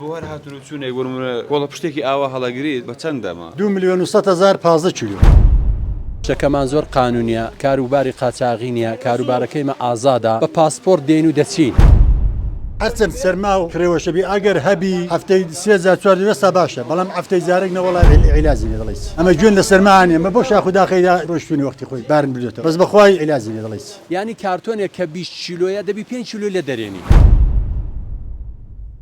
بۆ هەر هاتن و چونێک بۆ نمونە کۆڵەپشتێکی ئاوا هەڵەگریت بە چەند دەمە؟ دوو ملیۆن و سەد هەزار پازدە کیلۆ. شتەکەمان زۆر قانونیە کار و باری قاچاغی نیە کاروبارەکەیمە ئازادە بە پاسپۆرت دێین و دەچین. هەرچەند سەرما و خرێوەشە بی ئەگەر هەبی هەفتەی سێ جار چوار جار ئێستا باشە بەڵام هەفتەی جارێک نە وەڵا عیلاجی نیە دەڵێ هیچ ئەمە گوێن لە سەرما ئانێ مە بۆ شاخ و داخەیدا رۆشتوونی وەختی خۆی بارم بردۆتەوە بەس بەخوای عیلاجی نیە دەڵێ هیچ. یانی کارتۆنێک کە بیست کیلۆیە دەبی پێنج کیلۆی لێ دەرێنی.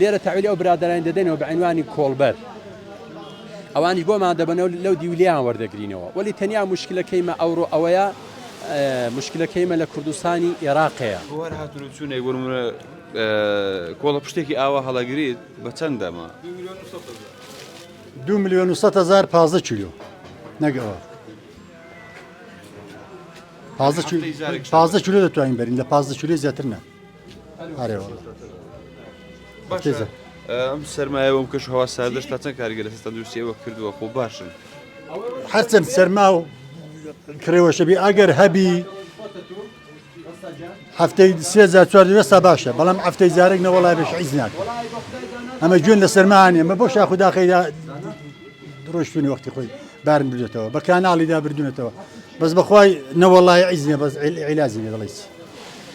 لێرە تەحویلی ئەو برادەرانی دەدەینەوە بە عینوانی کۆڵبەر ئەوانیش بۆمان دەبنەوە لەو دیولیان وەردەگرینەوە وەلی تەنیا مشکلەکەیمە ئەوڕۆ ئەوەیە مشکلەکەیمە لە کوردستانی ئێراقەیە هەر هاتون چوونێک وەرمە کۆڵە پشتێکی ئاوا هەڵەگریت بە چەند دەما دو میلیۆن و سە هزار پازدە کیلو نەگەوە پازدە کیلو دەتوانین بەرین لە پازدە کیلو زیاتر نە ئەرێ وەڵا باشە ئەم سەرمایە بۆم کەش هەوا ساردش تا چەند کارگە لەسەر تەندروستی ئەوە کردووە خۆ باشن هەرچەند سەرما و کرێوەشەبی ئەگەر هەبی هەفتەی سێزا چوار دەستا باشە بەڵام هەفتەی جارێک نەوەڵای بەش عیز ناکە ئەمە جوێن لە سەرمانە ئەمە بۆ شاخدا خەیدا ڕۆشتونی وەختی خۆی بارن بردێتەوە بە کانناڵیدا بردونەتەوە بەس بەخوای نەوەڵای عیزنە بەس عیلازی لێ دەڵیت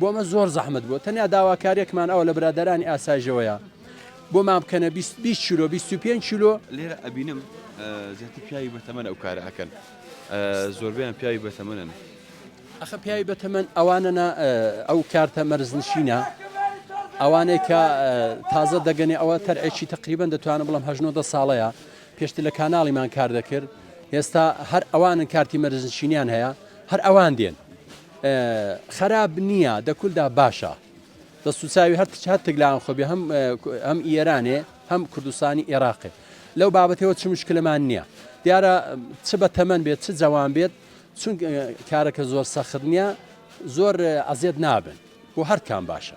بۆ ئەمە زۆر زەحمت بوو تەنیا داواکاریێکمان ئەوە لە برادرانی ئاسایژەوەیە بۆمان بکەنە 20 چیلۆ 25 چیلۆ لێرە ئەبینم زیاتر پیاوی بەتەمەن ئەو کارە ئەکەن زۆربیان پیاوی بەتەمەنن ئەخە پیاوی بەتەمەن ئەوانەنا ئەو کارتە مەرزنشینە ئەوانەی کە تازە دەگەنێ ئەوە تەرعێکی تقریبان دەتوانم بڵم هەژنۆدە ساڵەیە پێشتر لە کاناڵیمان کار دەکرد ئێستا هەر ئەوانن کارتی مەرزنشینیان هەیە هەر ئەوان دێن خەراپ نیە دە کولدا باشە. دەستوچاوی هەر هەر تگلان خۆبێ هەم هەم ئێرانێ هەم کوردستانی ئێراقێ لەو بابەتەوە چ مشکلمان نییە دیارە چ بە تەمەەن بێت چ جوان بێت چون کارەکە زۆر سەخت نییە زۆر ئەزیێت نابن و هەرکان باشە